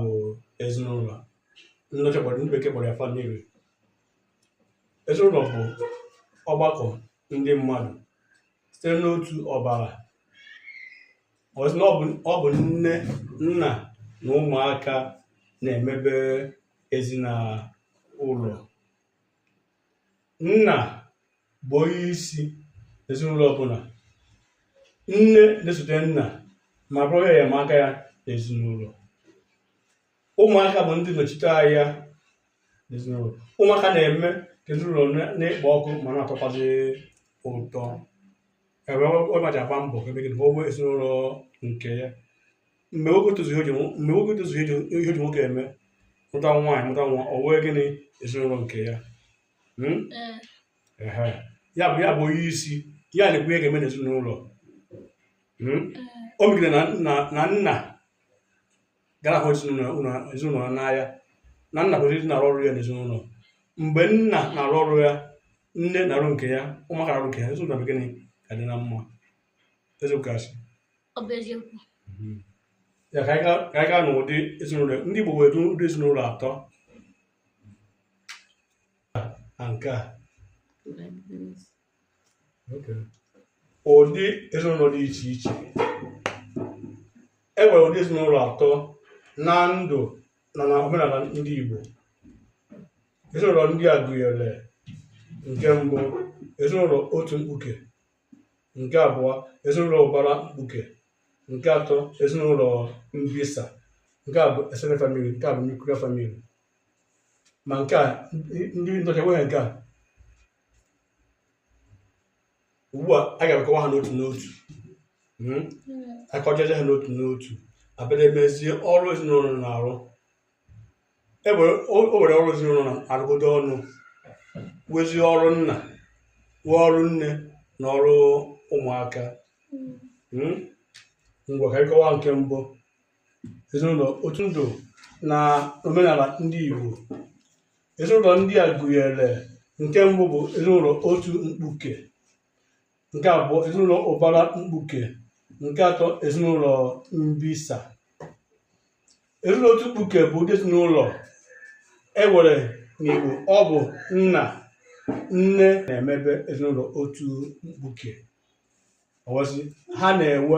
bụ ezinụlọ ndị ọcha kpọrọ ndị bekee kpọrọ ya family ezinụlọ bụ ọgbakọ ndị mmadụ sitere n'otu ọbara ọ sị na ọ bụ- ọ bụ nne nna na ụmụaka na-emebe ezinụlọ nna bụ onye isi ezinụlọ ọbụla nne na-esote nna ma bụrụ onye enyemaka ya n'ezinụlọ ụmụaka bụ ndị nọchite anya n'ezinụlọ ụmụaka na-eme ka ezinụlọ na-ekpo ọkụ ma na-atọkwazi ụtọ ebe ọ maji agba mbọ ebe gị na o nwee ezinụlọ nke ya mgbe nwoke tozuo oge nwo- mgbe nwoke tozuo oge ihe e ji nwoke eme lụta nwaanyị mụta nwa o wee gịnị ezinụlọ nke ya Hmm? Ee. Ehe. ya bụ ya bụ onye isi ya na-ekwu ihe ga-eme n'ezinụlọ Hmm? o mee gịnị na nna na nna ga-ahụ ezinụlọ ụlọ- ezinụlọ ya n'anya na nna kwesịrị ịdị na-arụ ọrụ ya n'ezinụlọ mgbe nna na-arụ ọrụ ya nne na-arụ nke ya ụmụaka na-arụ nke ya ezinụlọ bụ gịnị ka dị na mma eziokwu asị ọ bụ eziokwu mhm. ngwa ka anyị gaa n'ụdị ezinụlọ ndị Igbo were ụdị ezinụlọ atọ na nke a ụdị ezinụlọ dị iche iche e nwere ụdị ezinụlọ atọ na ndụ na na omenala ndị Igbo ezinụlọ ndị a gụnyere nke mbụ ezinụlọ otu mkpuke nke abụọ ezinụlọ ụbara mkpuke nke atọ ezinụlọ mbisa nke a bụ extended family nke a bụ nuclear family ma nke a ndị ọcha enweghị nke a ugbu a a ga-akọwa ha n'otu n'otu a kọchaa ha n'otu n'otu a bịa na-emezie ọrụ ezinụlọ na-arụ e nwere o o nwere ọrụ ezinụlọ na-arụkọta ọnụ wezi ọrụ nna nwee ọrụ nne na ọrụ ụmụaka Mm? ngwa ka anyị kọwaa nke mbụ ezinụlọ otu ndụ na omenala ndị Igbo ezinụlọ ndị a gụnyere nke mbụ bụ ezinụlọ otu mkpuke nke abụọ ezinụlọ ụbara mkpuke nke atọ ezinụlọ mbisa ezinụlọ otu mkpuke bụ ụdị ezinụlọ e were n'Igbo ọ bụ nna nne na-emebe ezinụlọ otu mkpuke ọ wụzi ha na-enwe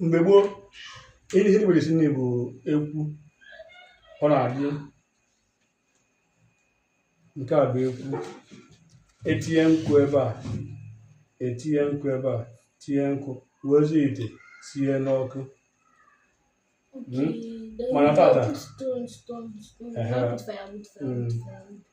mgbe gboo ihe ihe e jibere esi nri bụ ekwu ọ na-adị nke a bụ ekwu etinye nkụ ebe a etinye nkụ ebe a tinye nkụ wezie ite sie n'ọkụ Okay. Then Mana we tata. put stone, stone, stone. Ehe. Wood fire, wood fire, wood Mm. fire, wood fire.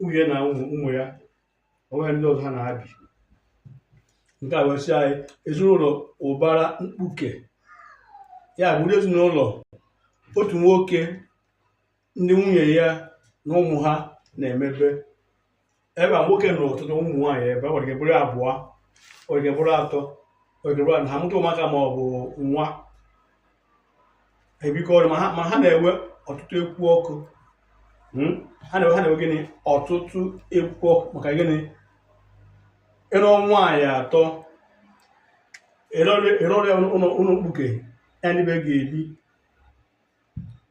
nwunye na ụmụ ụmụ ya o nweghị ndị ọzọ ha na ha bi nke a wee sị anyị ezinụlọ ụbara mkpuke ya bụ ụdị ezinụlọ otu nwoke ndị nwunye ya na ụmụ ha na-emebe ebe a nwoke nụrụ ọtụtụ ụmụ nwaanyị ebe a nwere ike bụrụ abụọ nwere ike bụrụ atọ nwere ike bụrụ anọ ha mụta ụmụaka ma ọ bụ nwa ebikọrọ ma ha na-enwe ọtụtụ ekwu ọkụ hmm? ha na-enwe gịnị ọtụtụ ekwu ọkụ maka gịnị ị lụọ nwaanyị atọ ị rụọra ya ụlọ mkpuke ya ndị be ga-ebi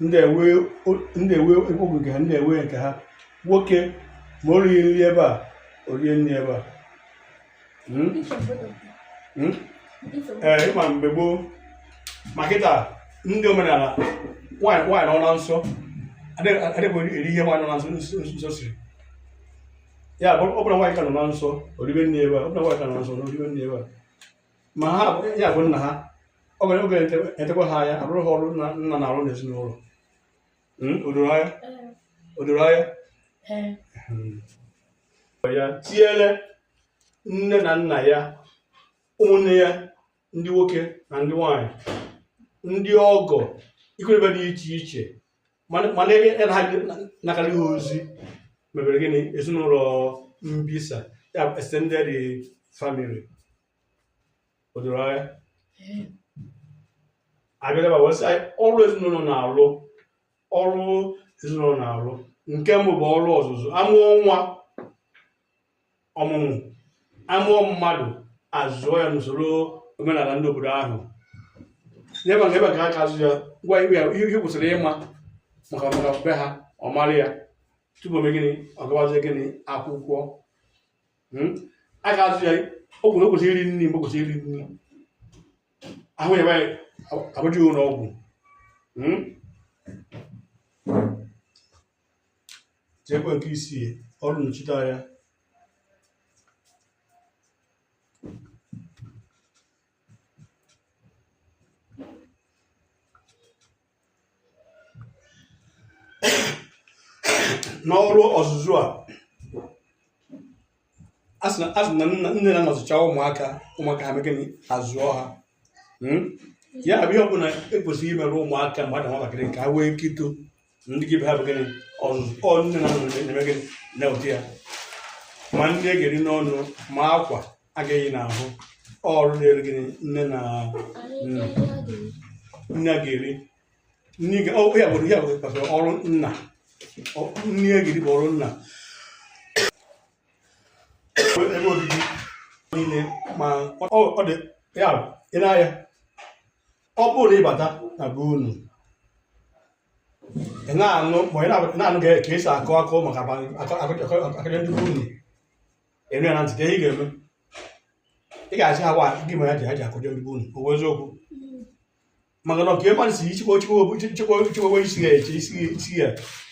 ndị a enwee ndị a enwee ebe ogige ha ndị a enwee nke ha nwoke ma o righị nri ebe a o rie nri ebe a Hmm? Hmm? ee ị ma mgbe gboo ma kịta ndị omenala nwaanyị nwaanyị nọ na nsọ adịghị adịghị eri ihe nwaanyị nọ na nsọ nsọ nsọ siri ya bụ ọ bụrụ na nwaanyị nke a nọ na nsọ o ribe nri ebe a ọ bụrụ na nwaanyị nke a nọ na nsọ o ribe nri ebe a ma ha ya bụ nna ha ọ ga na-echekwa ha ya arụrụ ha ọrụ nna na-arụ n'ezinụlọ hmm, o doro anya o doro anya hmm. ya tinyere nne na nna ya ụmụnne ya ndị nwoke na ndị nwanyị ndị ọgọ ikwu na ibe dị iche iche mana mana ebe ya na nakara ihe ozi mebere gịnị ezinụlọ mbisa ya bụ extended family o doro anya a bịa n'ebe a wee sị anyị ọrụ ezinụlọ na-alụ ọrụ ezinụlọ na-alụ nke mbụ bụ ọrụ ọzụzụ a mụọ nwa ọmụmụ a mụọ mmadụ a zụọ ya n'usoro omenala ndị obodo ahụ n'ebe nke ebe ka ha ga-azụ ya ngwa ihe ya- ihe kwesịrị ịma maka maka be ha ọ mara ya tupu o mee gịnị ọ gawazie gịnị akwụkwọ Hmm? a ga-azụ ya o kwuru o kwesịrị iri nri mgbe o kwesịrị iri nri ahụ yaba ya e buje ụlọ ọgwụ Hmm? tinyekwa nke isii ọrụ nnochite anya n'ọrụ ọzụzụ a asị na asị na nne na nna zụchaa ụmụaka ụmụaka ha mee gịnị azụọ ha Hmm? ya bụ ihe ọbụla e kwesịrị imere ụmụaka mgbe ha dị nwatakịrị ka ha nwee ike ito ndị gị be ha bụ gịnị ọzụzụ ọ nne na nna na-eme gịnị na-eweta ya ma nri a ga-eri n'ọnụ ma akwa a ga-eyi n'ahụ ọrụ dịrị gịnị nne na nna nri a ga-eri n'iga ọ ya bụ ya bụ kpatara ọrụ nna Ọ- nne ya gidi bụ ọrụ nna ebe obibi niile ma ọ ọ dị ya bụ, ị na-aya ọ bụrụ na ịbata na be unu ị na-anụ ma ị na- ị na-anụ ka ka esi akọ akọ maka akọ- akọ- akọ- akọrọ ndị be unu ị nụ ya na ntị ka ihe ị ga-eme ị ga-asị ha wa gị ma ya ji ha ji akọjọ ndị be unu o wee eziokwu maka na ọka ịma si ichekwa ochekwa chekwa chekwa isi ya eche isi isi ya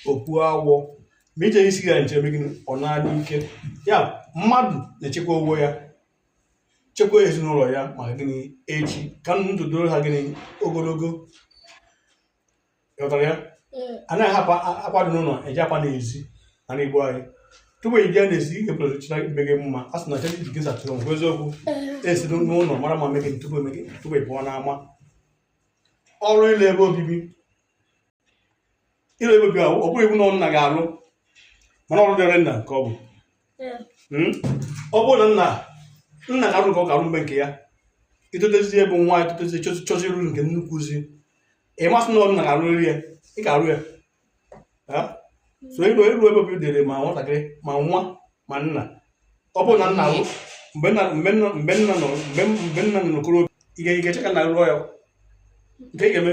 okpu awọ ma iche isi ya nche megide ọ naanị ike ya mmadụ na-echekwa onwe ya chekwa ezinụlọ ya maka gịnị echi ka ndụ doro ha gịnị ogologo ghọtara ya a na-akwado n'ụlọ eji apụ n'ezi ana igbo anyị tupu ị bịa n'ezi ị ga-ebere china ibe gị mma a sị na chena iji gị zatụrụ ngwa eziokwu esi n'ụlọ mara mma me gịnị tupu e mee gịnị tupu ị pụọ n'ama ọrụ ịlụ ebe obibi ịlụ ebe obibi ọ bụghị iwu na nna ga-alụ mana ọrụ dịrị nna ka ọ bụ hmm? ọ bụrụ na nna nna ga-arụ nke ọ ga-arụ mgbe nke ya itotezi ebe nwa itotezi chọzie ịrụ nke nnukwu zi ị ma asị na ọ nna ga-arụrịrị ya ị ga-arụ ya so ịlụ ịlụ ebe obi dịrị ma nwatakịrị ma nwa ma nna ọ bụrụ na nna bụ mgbe nna mgbe nna mgbe nna nọ mgbe mgbe nna nọ n'okoro ị ga- ị ga-eche ka nna rụọ ya nke ị ga-eme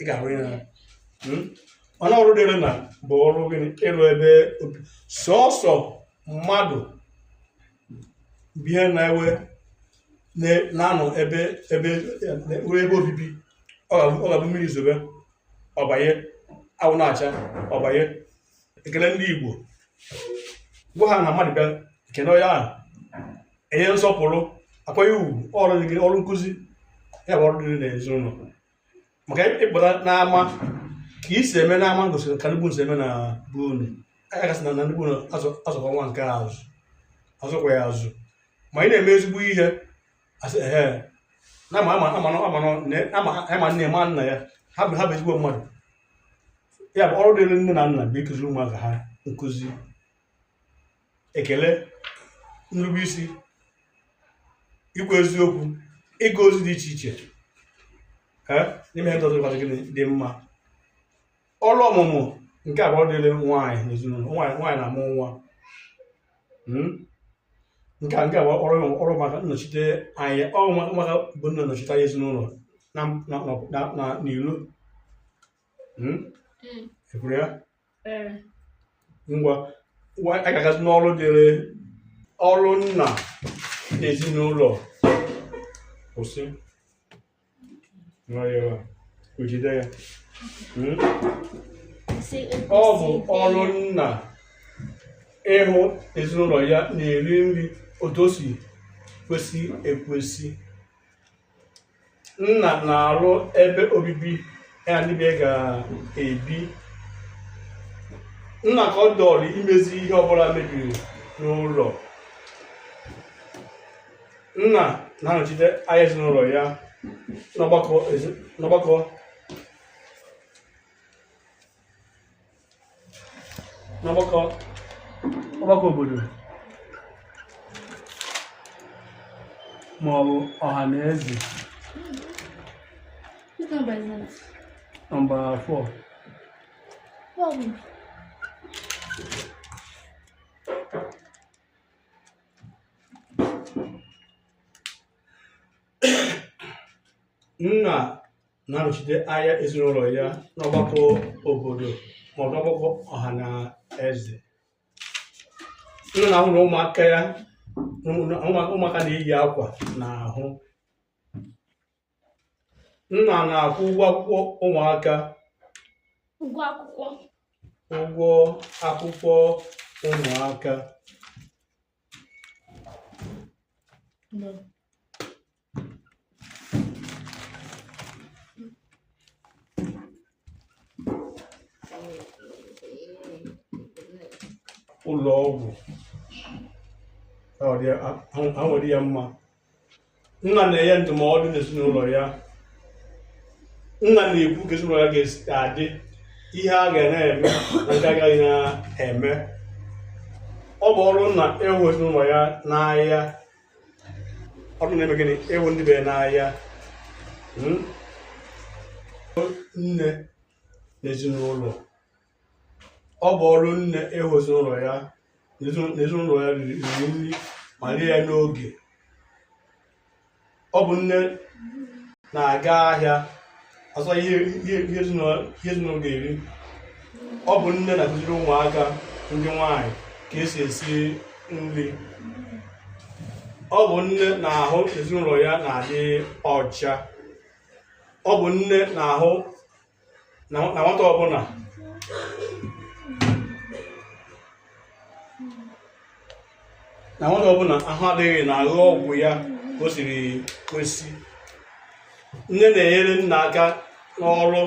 ị ga-arụ ya n'anya. Hmm? mana ọrụ dịrị nna bụ ọrụ gịnị ịlụ ebe obi sọsọ mmadụ ihe na-ewe na-anọ ebe ebe nwere ebe obibi ọ ga-abụ mmiri zobe ọ banye anwụ na-acha ọ banye ekele ndị Igbo gwa ha na mmadụ bịa ekene onye ahụ enye nsọpụrụ akwanye ugwu ọrụ nkụzi ya bụ ọrụ dịrị n'ezinụlọ maka ịpụta n'ama ka i si eme n'ama gosiri ka ndị be unu si eme na be unu a ga-asị na na ndị be unu azụ- azụkwa nwa nke a azụ azụkwa ya azụ ma ị na-eme ezigbo ihe asị ehe na ama ama ama ama na- ama ama nne ma nna ya ha bụ ha bụ ezigbo mmadụ ya bụ ọrụ dịrị nne na nna bụ ịkụziri ụmụaka ha nkụzi ekele nrube isi ikwu eziokwu ịga ozi dị iche iche ee n'ime ihe ndọtụ ụbọchị gịnị dị mma ọrụ ọmụmụ nke a bụ ọrụ dịrị nwaanyị n'ezinụlọ nwaanyị nwaanyị na-amụ nwa Mm? nke a nke a bụ ọrụ ọrụ maka nnọchite anya ọrụ maka- maka bụ nna na-anọchite anya ezinụlọ na na na na n'ilo Mm? Mm. ekwuru ya ee ngwa ngwa anyị ga-agazi n'ọrụ dịrị ọrụ nna na ezinụlọ kwụsị nwayọọ o jide ya Hmm? kwụsị ọ bụ ịkwụsị ọrụ ike. nna ịhụ ezinụlọ ya na-eri nri otu o si kwesị ekwesị nna na-arụ ebe obibi ya na ndị be ya ga-ebi nna ka ọ dịrị imezi ihe ọbụla mebiri n'ụlọ nna na-anọchite anya ezinụlọ ya n'ọgbakọ ezi- n'ọgbakọ n'ọgbakọ ọgbakọ obodo ma ọ bụ ọha na eze nọmba 4 nna na-anọchite anya ezinụlọ ya n'ọgbakọ obodo ma ọ bụ n'ọgbakọ ọha na eze nna na-ahụ na ụmụaka ya ụmụ- ụmụ- ụmụaka na-eyi akwa n'ahụ nna na-akwụ ụgwọ akwụkwọ ụmụaka ụgwọ akwụkwọ ụgwọ akwụkwọ ụmụaka ụlọ ọgwụ ahụ adịghị ya mma nna na-enye ndụmọdụ n'ezinụlọ ya nna na-ekwu ka ezinụlọ ya ga-adị ihe a ga na-eme na nke agaghị na-eme ọ bụ ọrụ nna ịhụ ezinụlọ ya n'anya ọrụ nna ime gịnị ịhụ ndị be ya n'anya hmm? nne n'ezinụlọ ọ bụ ọrụ nne ịhụ ezinụlọ ya na ezinụlọ ya riri nri ma rie ya n'oge ọ bụ nne na-aga ahịa azụ ihe ezinụlọ ga-eri ọ bụ nne na-akụziri ụmụaka ndị nwanyị ka esi esi nri ọ bụ nne na-ahụ n'ezinụlọ ya na-adị ọcha ọ bụ nne na-ahụ na nwata ọbụla ahụ adịghị na-aṅụ ọgwụ ya ka o siri kwesị nne na-enyere nna aka n'ọrụ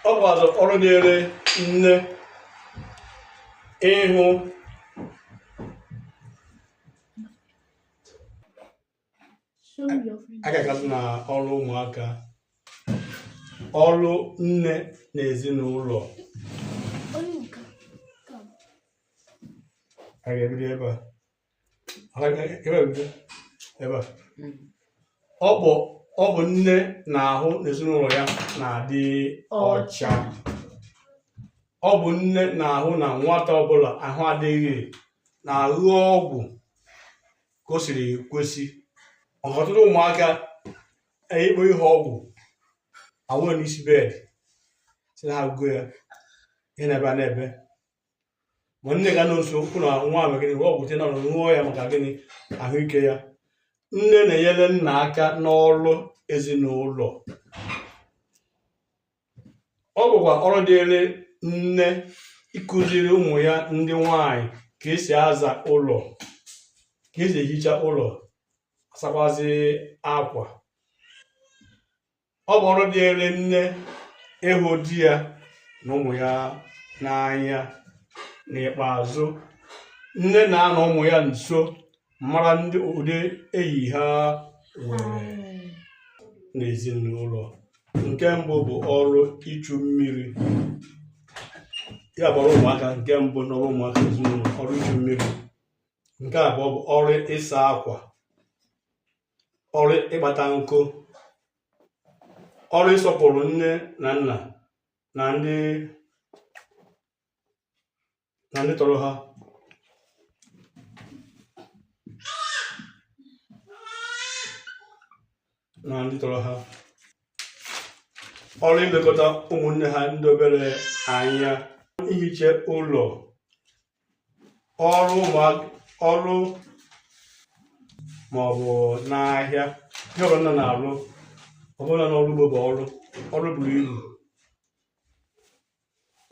ọ bụkwazị ọrụ dịrị nne ịhụ agagala m na ọrụ ụmụaka ọrụ nne na ezinụlọ a ga-ebido ebe a Ọ ga- ebe a bido? ebe a ọ bụ ọ bụ nne na-ahụ n'ezinụlọ ya na-adị ọcha ọ bụ nne na-ahụ na nwata ọbụla ahụ adịghị na-aṅụ ọgwụ ka o siri kwesị maka ọtụtụ ụmụaka ikpo ihe ọgwụ awụnye n'isi bed sị na ha aṅụgo ya ihe na-ebe na-ebe ma nne ga-anọ nso hụ na nwa ahụ gịnị ọgwụ te na ṅụọ ya maka gịnị ahụike ya nne na-enyere nna aka n'ọrụ ezinụlọ ọ bụkwa ọrụ dịrị nne ịkụziri ụmụ ya ndị nwanyị ka esi aza ụlọ ka esi ehicha ụlọ asakwazi akwa ọ bụ ọrụ dịrị nne ịhụ di ya na ụmụ ya n'anya n'ikpeazụ nne na-anọ ụmụ ya nso mara ndị ụdị enyi ha nwere n'ezinụlọ nke mbụ bụ ọrụ ichu mmiri ya bụ ọrụ ụmụaka nke mbụ n'ọrụ ụmụaka n'ezinụlọ ọrụ ichu mmiri nke abụọ bụ ọrụ ịsa akwa ọrụ ịkpata nkụ ọrụ ịsọpụrụ nne na nna na ndị na ndị tọrọ ha na ndị tọrọ ha ọrụ ilekọta ụmụnne ha ndị obere anya ihicha ụlọ ọrụ ọrụ ma ọ bụ n'ahịa ihe ọrụ nna na-arụ ọbụla n'ọrụ ugbo bụ ọrụ ọrụ buru ibu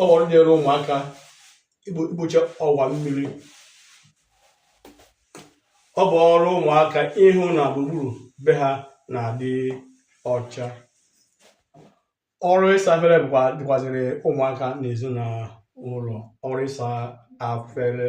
ọ bụ ọrụ dịịrị ụmụaka ikpocha ọwa mmiri ọ bụ ọrụ ụmụaka ịhụ na gburugburu be ha na-adị ọcha ọrụ ịsa afere dịkwaziri ụmụaka n'ezinụlọ ọrụ ịsa afere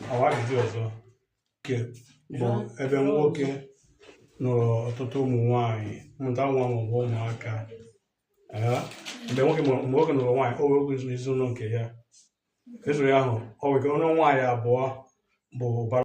e nwekwa ụdị ọzọ nke bụ ebe nwoke nụrụ ọtụtụ ụmụ nwaanyị mụta nwa maọbụ ụmụaka ee, mgbe nwoke mụrụ- mgbe nwoke nụrụ nwaanyị o wee oge ezinụlọ nke ya ezụrụ ya ahụ o nwee ike nụọ nwaanyị abụọ bụ ụbara